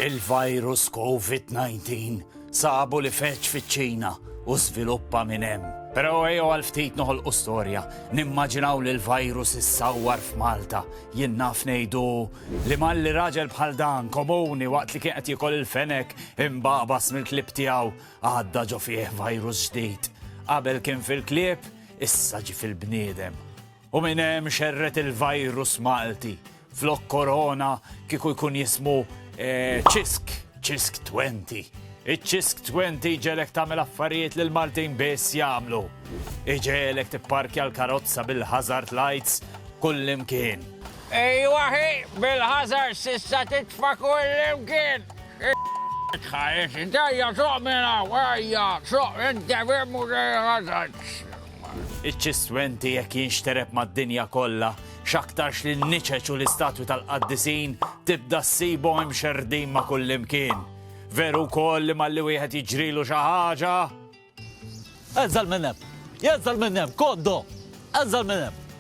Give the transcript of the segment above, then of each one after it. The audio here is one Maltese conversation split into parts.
Il-virus Covid 19 sabu li feġġ fiċ-Ċina u żviluppa minn hemm. Però ejjew għal ftit noħolqu storja, nimmaġinaw li l-virus issawwar f'Malta. Jien naf ngħidu li malli raġel bħal dan, komuni waqt li kien qed jiekol il-fenek, imbagħbas mill-klieb tiegħu, għadda ġo fih virus ġdid. Qabel kien fil-klieb, issa ġie fil-bniedem. U minn hemm xerred il-virus Malti. Flok Korona kieku jkun jismu Ċisk, Ċisk Twenti. Iċ-Ċisk Twenti jġegħlek tagħmel affarijiet li l-Maltin biss jagħmlu. Iġegħlek tipparkja l-karozza bil-hazard lights kullimkien. Ejwa hi, bil-hazard s'issa titfa' kullimkien! Ħa int ejja suq minn hawn, ejja, suq, inti ferm uża l-hazards. Iċ-ċistwenti jekk jinxtereb mad-dinja kollha, x'aktarx li n-niċeċ u l-istatwi tal-qaddisin tibda ssibhom imxerrdin ma' kullimkien. Veru wkoll li malli wieħed jiġrilu xi ħaġa. Għeżżel minn hemm! Għeżżel minn hemm! Koddo! Għeżżel minn hemm!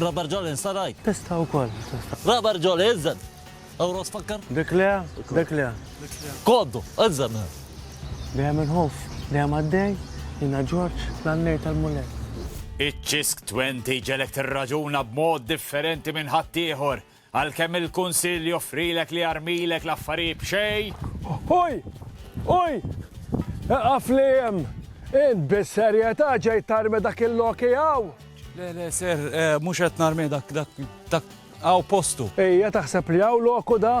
Rubber Jolly nsaraj. Testa wkoll. Rubber Jolly iżżed. Ewros fakkar? Dik le, dik le. Koddu, iżżed. Dejjem inħoff, dejjem għaddej, jiena Ġorġ, l-għannej tal-Mulej. Iċ-ċisk 20 ġegħlek tirraġuna b'mod differenti minn ħaddieħor Għalkemm il-Kunsill joffrilek li jarmilek l-affarijiet b'xejn. Oj! Oj! Eqaf li hemm! Int bis-serjetà ġejt tarmi dak il-loki hawn? Le, le, Sir, mhux qed narmih dak, dak, dak hawn postu. Hija taħseb li hawn loku da?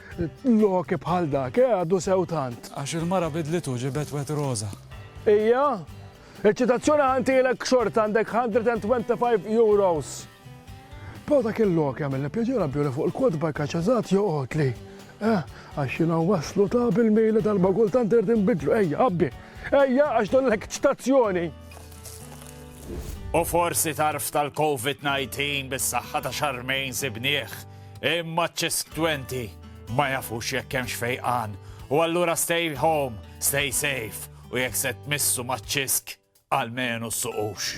Loki bħal dak, eh, għadu sew tant. Għax il-mara bidlitu ġibet wet roża. Ija, il-ċitazzjoni ħantilek xort għandek 125 euros. Pero dak il-lok jagħmel li pjaġir għabjuri fuq il-kodba kaċazat joqgħod li. Eh, għax jina waslu ta' bil-mejli tal-bagul tant irrid nbidlu, ejja, għabbi. Ejja, għax don l-ekċitazzjoni. U forsi tarf tal-COVID-19 bis-saħħa ta' xarmejn sibnieħ Imma ċ-ċestwenti ma jafux jekk hemmx fejqan u allura stay home, stay safe u jekk se tmissu maċ-ċisk għalmenu suqux.